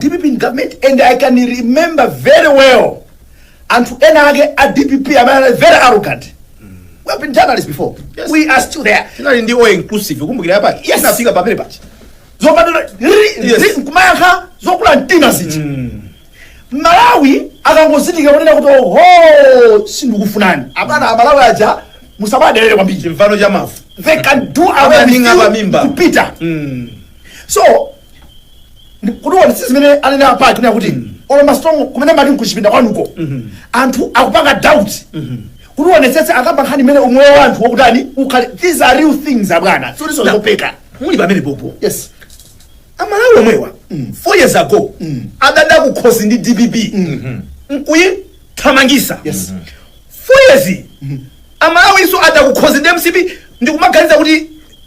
Dpp in government and I can remember very well anthu ena ake a dpp amene anali very arrogant we have been journalists before Yes. we are still there tinali ndi all inclusive kumbukira yapa Yes. inafika pamene pachi zopanda Yes. nkumayankha zokula mtima ziti amalawi akangozindikira kunena kuti oho sindikufunani abwana amalawi aja musamadelere kwambiri chimvano cha mavu they can do away with Amaninga you pamimba. kupita so kuti uonetse zimene anene apaji kunena kuti olo masitolo kumene mmati nkuchipinda kwanuko anthu akupanga doubt kuti uonetsetse akamba nkhani imene umoyo wa anthu wakutani ukhale these are real things abwana sikutinso zopeka muli pamene pompo yes amalawi omwewa four years ago adada kukhosi ndi dpp nkuyithamangitsa Yes. four years amalawi inso ada kukhosi ndi mcp ndikumaganiza kuti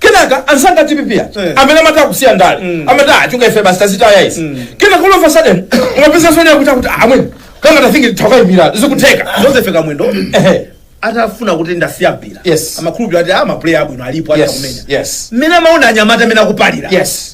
kenaka anzanga a dpp aja Eh. amene amati akusiya ndale amati achoka ife basi tazitaya izi kenaka all of a sudden mwapeza fene yakuti akuti amwene kanga tafingi tawakaimira zikutheka joseph kamwendo Ehe. atanena kuti ndasiya mpira Yes. amakhulupirira ati a mapuleya abwino alipo Yes, atakumenya yes. mmene amaona anyamata mmene akupalira Yes.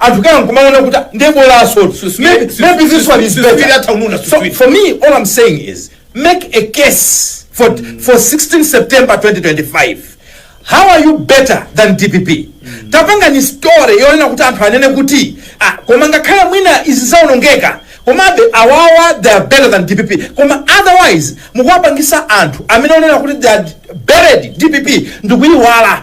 Anthu ena nkumaona kuti nde bolaso maybe, maybe this one is better. So for me all I'm saying is make a case for, for 16 September 2025. How are you better than DPP? Tapangani story yonena kuti anthu anene kuti ah, koma ngakhale mwina izi zaonongeka komabe awawa they are better than DPP koma otherwise mukuwapangisa anthu amene anaona kuti they have buried DPP ndikuyiwala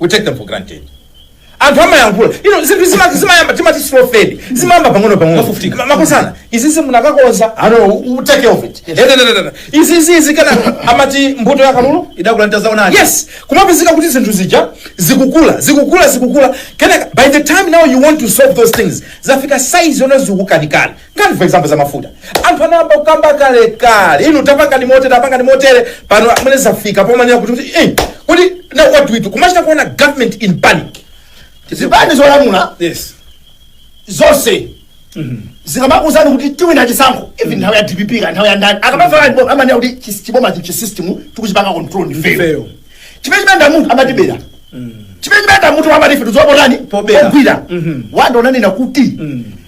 we take them for granted anthu amayankhula inu zinthu zima- zimayamba timati slow fade zimayamba pang'ono pang'ono Mafufutika. Ma- makosana izizi munakakonza ano u- take care of it Eh, da, da, da, da, da. izizi zikana amati mbuto ya kalulu idakula ndi tadzaonani yes kumapezeka kuti zinthu zija zikukula zikukula zikukula kenaka by the time now you want to solve those things zafika size yoti zikukanikani ngati for example za mafuta anthu anayamba kukamba kalekale inu tapangani motere tapangani motere pano amene zafika pomanena kuti kuti eh, kuti now what do we do kumachita kuona government in panic zipani zolamula yes zonse zikamakuuzani kuti tiwina chisankho even nthawi ya dpp ka nthawi ya ndani akamafaa amanena kuti chis- chiboma chi- chisystem tikuchipanga control ndife Ife. chimene chimaluza munthu amatibera chimene chimanda munthu amatife tizopotani Pobera. ogwira wanda unanena kuti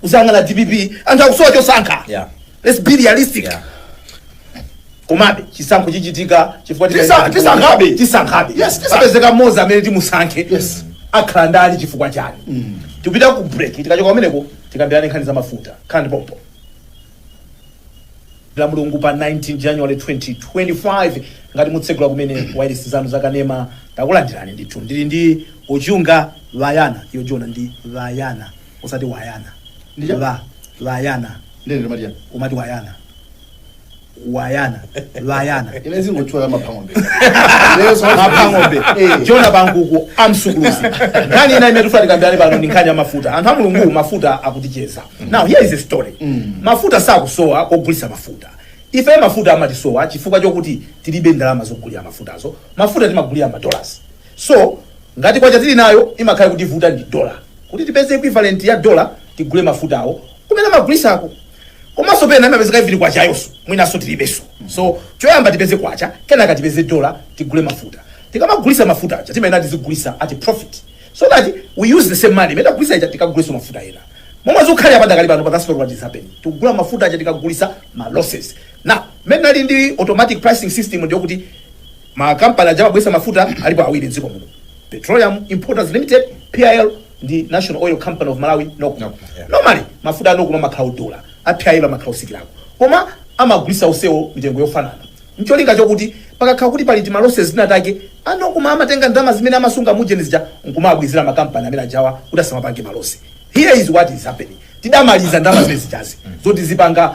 kuzanena dpp anthu akusowa chosankha Yeah. let's be realistic Yeah. komabe chisankho chichitika chifukwa Tisa- tikaika- tisankhabe. tisankhabe Yes, tisankhabe. apezeka mmodzi amene timusankhe Yes. akhala ndani chifukwa chani tipita ku break tikachoka kumeneko tikambirane nkhani za mafuta nkhani pompo la mulungu pa 19 january 2025 ngati mukutsegula kumene wailesi zanu zakanema takulandirani ndithu ndili ndi ochunga vayana yojona ndi vayana osati wayana Ndicha- va vayana ndine ndimati chani umati wayana wayana vayana ine zingotchula ya maphang'ombe mapang'ombe Jona Pankuku Amsukulusi nkhani ina imene tifuna tikambirane pano ndi nkhani ya mafuta anthu a mulungu mafuta akutichedza now here is a story mafuta sakusowa kogulitsa mafuta ife mafuta amatisowa chifukwa chokuti tilibe ndalama zogulira mafutawo mafuta timagulira madollars So ngati Kwacha tili nayo imakhala ikutivuta ndi dollar. Kuti tipeze equivalent ya dollar tigule mafutawo kumene amagulisako. Komanso pena imapezeka even kwachayonso mwinanso tilibenso. So choyamba tipeze kwacha kenaka tipeze dollar tigule mafuta. Tikamagulisa mafuta aja timayenera tizigulisa at profit so that we use the same money imene tagulisa ija tikaguliso mafuta ena. Momwe zikukhalira padakali panopa that's not what is happening. Tikugula mafuta aja tikugulisa ma losses. Now mmene tinali ndi automatic pricing system ndiye kuti Ma kampani aja amagulitsa mafuta alipo awiri m'dziko muno, Petroleum Importers Limited, PIL, ndi National Oil Company of Malawi, Nocma. Nocma, yeah. Normally, mafuta a Nocma amakhala odula, a PIL amakhala otsikirako. Koma amagulitsa onsewo mitengo yofanana. N'cholinga chokuti pakakhala kuti pali tima losses tina take, a Nocma amatenga ndalama zimene amasunga mu ujeni muja n'kumawabwezera ma kampani amene ajawa kuti asamapange ma loss. Here is what is happening. Tidamaliza ndalama zimene zijazi zoti zipanga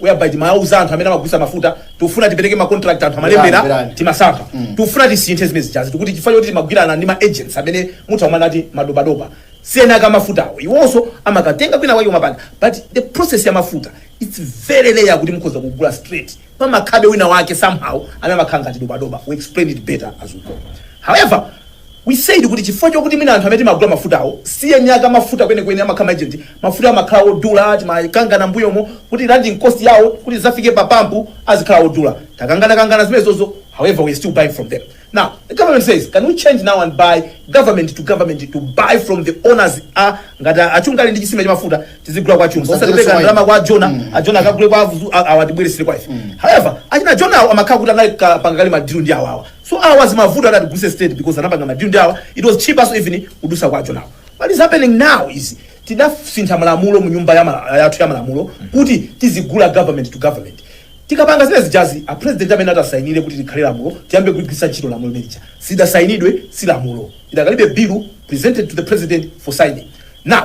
whereby timawauza anthu amene amagulisa mafuta tikufuna tipereke ma contract anthu amalembera timasankha tikufuna tisinthe zimene zijazi tikuti chifukwa choti timagwirana ndi ma agents amene mutati madobadoba si eni ake a mafutawo iwonso amakatenga kwina kwake kumapanga but the process ya mafuta its very rare kuti mukhoza kugula straight pamakhalabe wina wake somehow amene amakhala ngati dobadoba we explain it better as we go however We said kuti chifukwa chokuti mwina anthu amene timagula mafutawo si eni ake a mafuta kwenikweni, amakhala ma agent, mafutawo amakhala odula, timakangana mmbuyomu kuti landing cost yawo kuti adzafike pa pump azikhala odula. Takangana kangana zimenezozo however we are still buying from them. Now the government says can we change now and buy government to government to buy from the owners a ngati a Chunga ali ndi chisime cha mafuta tizigula kwa Chunga. Osati kupereka ndalama kwa a Jona, a Jona akagule kwa avuzu a- awa atibweretsere kwa ife. However, achina Jona awo amakhala kuti anapanga kale ma deal ndi awawa. So awa zimavuta kuti tigule straight because anapanga madilu ndi awa it was cheaper so even kudusa kwa a Jonawo. What is happening now is tidasintha malamulo mu nyumba ya mala- yathu ya malamulo kuti tizigula government to government. Tikapanga zimene zijazi a president amayenera atisainire kuti likhale lamulo tiyambe kugwiritsa ntchito lamulo limene lija. Isadasainidwe si lamulo. Idakalibe bill presented to the president for signing. Now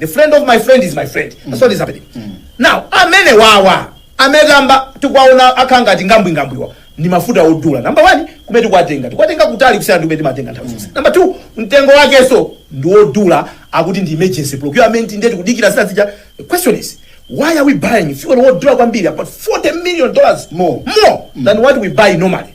the friend of my friend is my friend that's what is happening now amene awawa amene tikukamba tikwaona akhala ngati ngambwingambwiwa ndi mafuta odula namba one kumene tikwatenga tikwatenga kutali kusiyana ndi kumene timatenga nthawi zonse namba two mtengo wakenso ndi wodula akuti ndi emergency procurement ndiye tikudikira zina zija the question is why are we buying fuel wodula kwambiri about 40 million dollars more, more than what we buy normally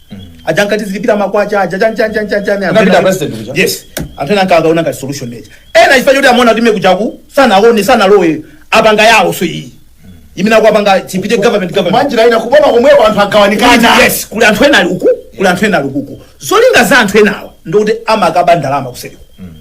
aja ankati zilipira makwacha aja chan chan chan chan chan Unapita president kuja? yes anthu ena anakaona ngati solution mwina ena chifukwa choti amaona kuti mekuchaku sanaone sanalowe apanga yawo so iyi imene akuapanga chipite government government mwanjira ina kuboma komweko anthu agawanikana yes kuli anthu ena ali uku kuli anthu ena ali uku zolinga za anthu enawa ndikuti amakaba ndalama kuseriku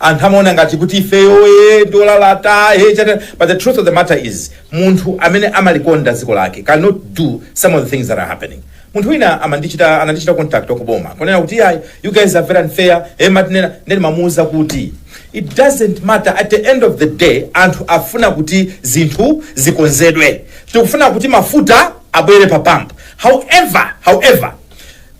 anthu amaona ngati kuti ifeyo e ndi olalata e chani but the truth of the matter is munthu amene amalikonda dziko lake cannot do some of the things that are happening munthu wina amandichita anandichita contact wakuboma kunena kuti ayi you guys are very unfair e matinena ndeni mamuuza kuti it doesn't matter at the end of the day anthu afuna kuti zinthu zikonzedwe tikufuna kuti mafuta abwere pa pump however however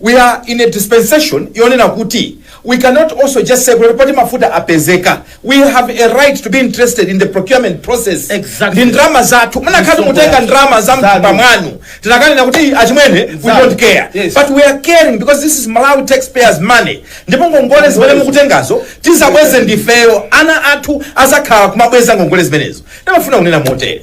We are in a dispensation yonena kuti we cannot also just say kuti poti mafuta apezeka we have a right to be interested in the procurement process Exactly. ndi ndalama zathu munakhala kuti Msonkho mukutenga yathu. ndalama za Zanu. mtumba mwanu tikananena kuti achimwene we Zanu. don't care Yes. but we are caring because this is malawi taxpayers money ndipo ngongole zimene mukutengazo tizabweze ndifeyo ana athu azakhala kumabweza ngongole zimenezo ndimafuna kunena motere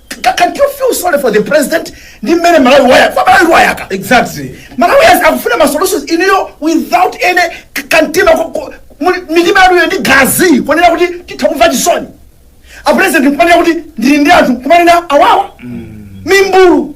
Ca- Can't you feel sorry for the president? Ndi mmene Malawi wayaka. Kwa Malawi wayaka. Exactly. Malawi has akufuna ma solutions inuyo without any k- kantima ko- ko- muli- mitima yanuyo ndi magazi ponena kuti titha kumumvera chisoni. A president kumanena kuti ndili ndi anthu kumene awawa. Mimbulu.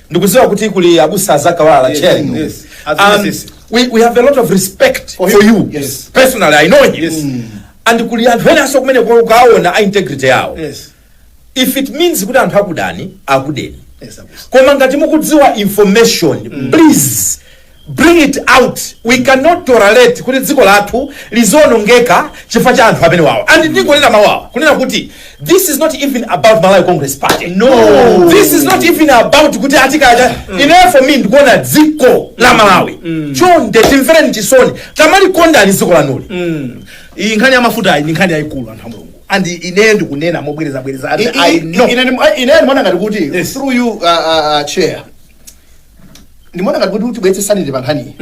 ndikudziwa kuti kuli abusa a Zacc Kawalala Yes, chenu yes. and Azimisisi. we, we have a lot of respect for, For him. you Yes. personally i know him Yes. and kuli anthu enanso kumeneko aona a integrity yawo Yes. if it means kuti anthu akudani akudeni Yes, abusa. koma ngati mukudziwa information please Bring it out we can not tolerate kuti dziko lathu lizionongeka chifukwa cha anthu amenewawa and ndingonena mawu awa kunena kuti this is not even about Malawi Congress Party no this is not even about kuti ati kaya ineyo for me ndikuona dziko la Malawi chonde timvereni chisoni tamalikondani dziko lanuli iyi nkhani ya mafuta iyi ndi nkhani yayikulu anthu a mulungu and ineyo ndikunena mobwerezabwereza and I know ine ndimaona ngati kuti Yes. through you uh, uh, uh, chair ndimaona ngati kuti tibweretse sanity pa nkhaniyi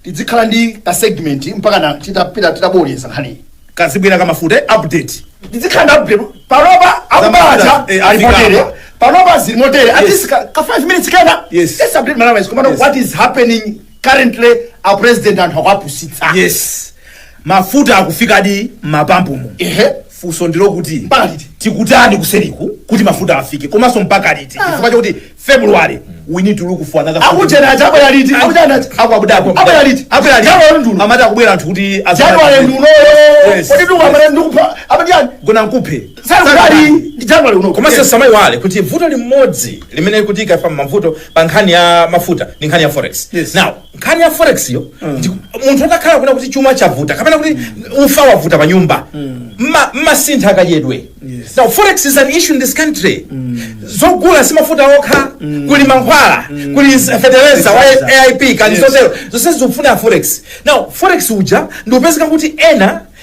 tidzikhala ndi ka segment mpaka na titapita titaboleza nkhaniyi kazibwera kamafuta update tidzikhala ndi update panopa akubacha Zamafuta, eh, ali motere afikapa. panopa zili motere at Yes. least ka ka 5 minutes kena Yes. let's update malawi komano Yes. what is happening currently a president anthu akuwapusitsa yes mafuta akufikadi mapampumo ehe funso ndi lakuti Mpaka liti? tikutani kuseriku kuti mafuta afike komanso mpaka liti chifukwa chakuti february we need to look for another aku Kenya aja abwera liti aku Kenya aja akubwera abwera liti abwera liti January nduno. amati akubwera anthu kuti january ndunoyo Yes. kodi ndikupha apa ati chani gona nkuphe Sali ndi January uno. komanso tisamaiwale kuti vuto limodzi limene likutiika pa mavuto pa nkhani ya mafuta ndi nkhani ya forex Yes. now nkhani ya forexyo ndi- munthu utakhala kunena kuti chuma chavuta kapena kuti ufa wavuta pa nyumba mma- mmasintha kadyedwe Yes. now forex is an issue in this country zogula si mafuta okha kuli mankhwala kuli s- fetereza wa Exactly. aip Yes. ndi zotero zonse zikufuna forex now forex uja ndikupezeka kuti ena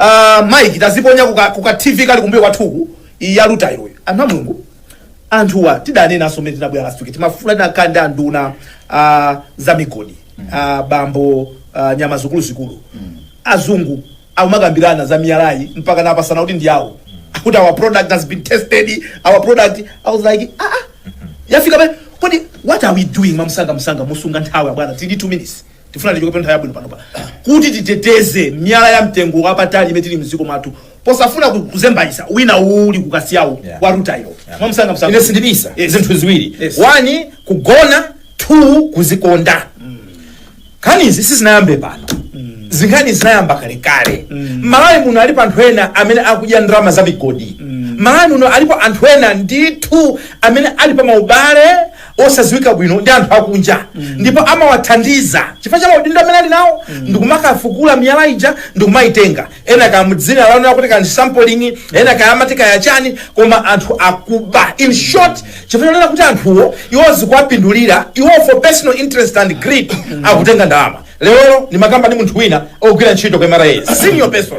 Aaa Mike taziponya kuka, kuka TV kali kumbuyo kwathuku iyi ya Luta iwe. Anthu a Mulungu anthuwa tidanenanso mmene tinkabwera last week timafuna titakhala ndi anduna uh, za migodi uh, bambo uh, nyama zikuluzikulu azungu akumakambirana za miyalayi mpaka kupatsana kuti ndi awo kuti our product has been tested our product i was like ah, ah. yafika pale kodi what are we doing mwamsangamsanga mosunga nthawi abwana tili 2 minutes tifuna tichoke pa nthawi yabwino panopa kuti titeteze miyala ya mtengo wapatali imene tili mdziko mwathu posafuna ku- kuzembayitsa wina uli ku Kasiya uko Yeah. wa rutileyo mwamsanga msanga ine sindibisa Yes. zinthu ziwiri Yes. one kugona two kuzikonda nkhanizi sizinayambe pano ndi nkhani zinayamba kalekale malawi muno alipo anthu ena amene akudya ndalama za migodi malawi muno alipo anthu ena ndithu amene ali pa maubale osaziwika bwino ndi anthu akunja ndipo amawathandiza chifukwa cha maudindo amene ali nawo ndikumakafukula miyala ija ndikumayitenga ena kaya mudzina lonena kuti kaya ndi sampling ena kaya amati kaya chani koma anthu akuba in short chifukwa chonena kuti anthuwo iwo zikuwapindulira iwo for personal interest and greed akutenga ndalama lero ndimakamba ndi munthu wina wogwira ntchito kwa mra senior person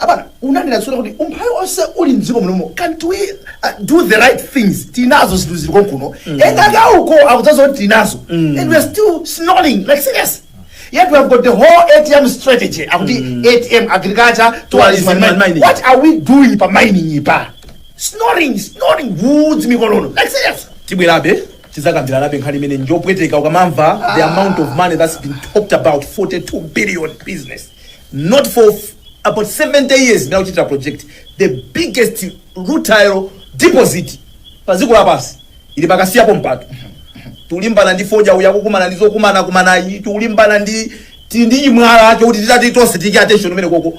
abwana munanena zona kuti umphawi onse uli mdziko munomu can't we uh, do the right things tili nazo zinthu zili konkuno engaka uko akudzaza kuti tili nazo and we are still snoring like serious yet we have got the whole atm strategy akuti atm agriculture tourism and mining. mining what are we doing pa mining ipa snoring snoring mkonono like serious tibwerabe tidzakambiranabe nkhani imeneyi njopweteka ukamamva the amount of money that's been talked about 42 billion business not for f- about 70 years ndikukuchitira project the biggest rutile deposit pa dziko lapansi ili pa Kasiyapo m'malo tikulimbana ndi fodya uya kukumana ndi zokumana kumana iyi tikulimbana ndi ti- ndi imwala ake kuti titati tonse tiike attention kumenekoko